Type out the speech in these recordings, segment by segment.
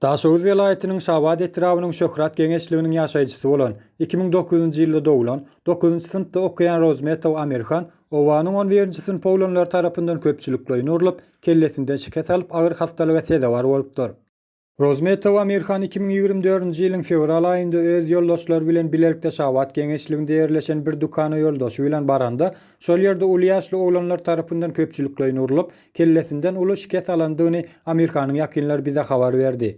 Daşoguz welaýatynyň Şabat etrabynyň Şöhrat geňeşliginiň ýaşaýjysy bolan, iki müň dokuz ýunjy ýylda doglan, dokuzynjy synpda okaýan Rozmetow Amirhan, obanyň on birinji synp oglanlary tarapyndan köpçülikleýin urlup, kellesinden şikes alyp agyr hassalyga sezewar bolupdyr. Rozmetow Amirhan iki müň ýigrimi dördünji ýylyň fewral aýynda öz ýoldaşlary bilen bilelikde Şabat geňeşliginde ýerleşen bir dükana ýoldaşy bilen baranda, şol ýerde uly ýaşly oglanlar tarapyndan köpçülikleýin urlup, kellesinden uly şikes alandygyny Amirhanyň ýakynlary bize habar berdi.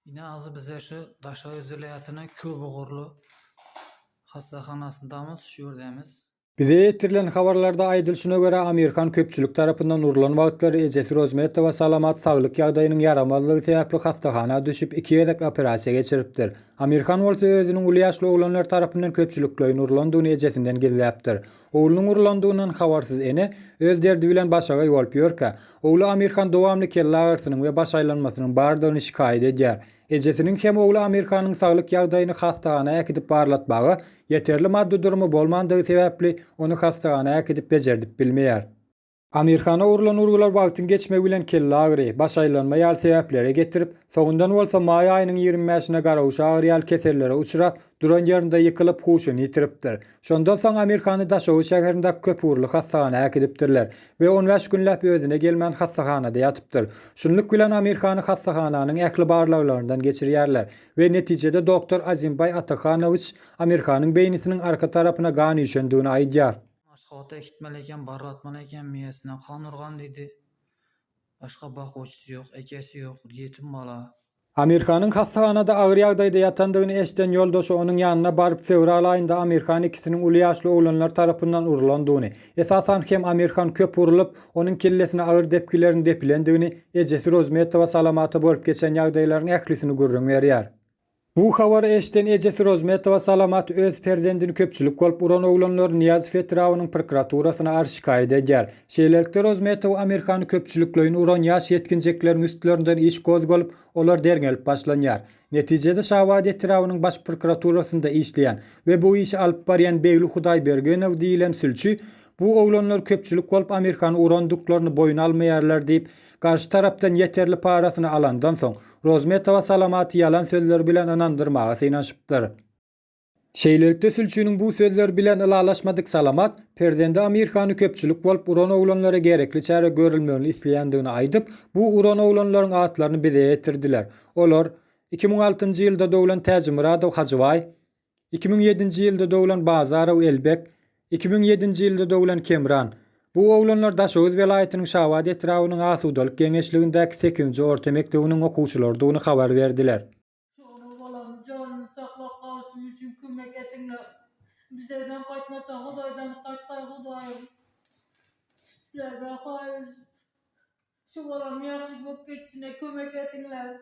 Ine azy bize şu Daşoguz welaýatynyň köpugurly hassahanasyndamyz, şu ýerdemiz. Bize ýetirilen habarlarda aýdylyşyna görä, Amir Han köpçülik tarapyndan urlan wagtlary ejesi Rozmetowa salamat saglyk ýagdaýynyň ýaramazlygy sebäpli hassahana düşüp, iki gezek operasiýa geçiripdir. Amir Han bolsa özüniň uly ýaşly oglanlar tarapyndan köpçülikleýin urlandygyny ejesinden gizläpdir. Oglunyň urlandygyndan habarsyz ene, öz derdi bilen başagaý bolup ýörkä, ogly Amir Han dowamly kelle agyrysynyň we baş aýlanmasynyň bardygyny şikaýat edýär. Ejesiniň hem ogly Amirhanyň saglyk ýagdaýyny hassahana äkidip barlatmaga ýeterli maddy durumy bolmandygy sebäpli ony hassahana äkidip bejerdip bilmeýär. Amirhana urlan urgular wagtyň geçmegi bilen kelle agyry, baş aýlanma ýaly sebäplere getirip, soňundan bolsa maý aýynyň ýigrimi bäşine garaguşa agyry ýaly kesellere uçrap, duran ýerinde ýykylyp huşuny ýitiripdir. Şondan soň Amirhany Daşoguz şäherindäki köpugurly hassahana äkidipdirler we on bäş günläp özüne gelmän hassahanada ýatypdyr. Şunluk bilen Amirhany hassahananyň ähli barlaglaryndan geçirýärler we netijede doktor Azimbaý Atahanowiç Amirhanyň beýnisiniň arka tarapyna gan üýşendigini aýdýar. Maslahat eşitmeli eken, barlatmaly eken, miýesine kan urgan diýdi. Başga bakuwçysy ýok, ekesi ýok, ýetim bala. Amirhanyň hassahanada agyr ýagdaýda ýatandygyny eşden ýoldaşy onuň ýanyna baryp fewral aýynda Amirhan ikisiniň uly ýaşly oglanlar tarapyndan urulandygyny, esasan hem Amirhan köp urulyp, onuň kellesine agyr depgilerin depilendigini, ejesi Rozmetowa Salamata bolup geçen ýagdaýlaryň ählisini gürrüň berýär. Bu habary eşden ejesi Rozmetowa Salamat öz perzendini köpçülik bolup uran oglanlary Nyýazow etrabynyň prokuraturasyna arz şikaýat edýär. Şeýlelikde, Rozmetow Amirhany köpçülikleýin uran ýaş ýetginjekleriň üstlerinden iş gozgalyp, olar derňelip başlanýar. Netijede, Şabat etrabynyň Baş prokuraturasynda işleýän we bu işi alyp barýan Begli Hudaýbergenow diýlen sülçi, Bu oglanlar köpçülik bolup Amirhany urandyklaryny boýun almaýarlar diýip, garşy tarapdan ýeterli parasyny alandan soň, Rozmetowa Salamaty ýalan sözleri bilen ynandyrmaga synanyşypdyr. Şeýlelikde sülçiniň bu sözleri bilen ylalaşmadyk Salamat, perzendi Amir hany köpçülik bolup uran oglanlara gerekli çäre görülmegini isleýändigini aýdyp, bu uran oglanlaryň atlaryny bize ýetirdiler. Olar, iki müň altynjy ýylda doglan Täjimyradow Hajybaý, iki müň ýedinji ýylda doglan Bazarow Elbek, iki müň ýedinji ýylda doglan Kemran. Bu oglanlar Daşoguz welaýatynyň Şabat etrabynyň Asudalyk geňeşligindäki sekizinji orta mekdebiniň okuwçylarydygyny habar berdiler. Şonuň bolan janyny saklap galyşym üçin kömek ediňler. Bizeden gaýtmasa Hudaýdan gaýtgaý Hudaýym. Sizlerden haýyş. Şu bolam ýagşy bolup geçişine kömek ediňler.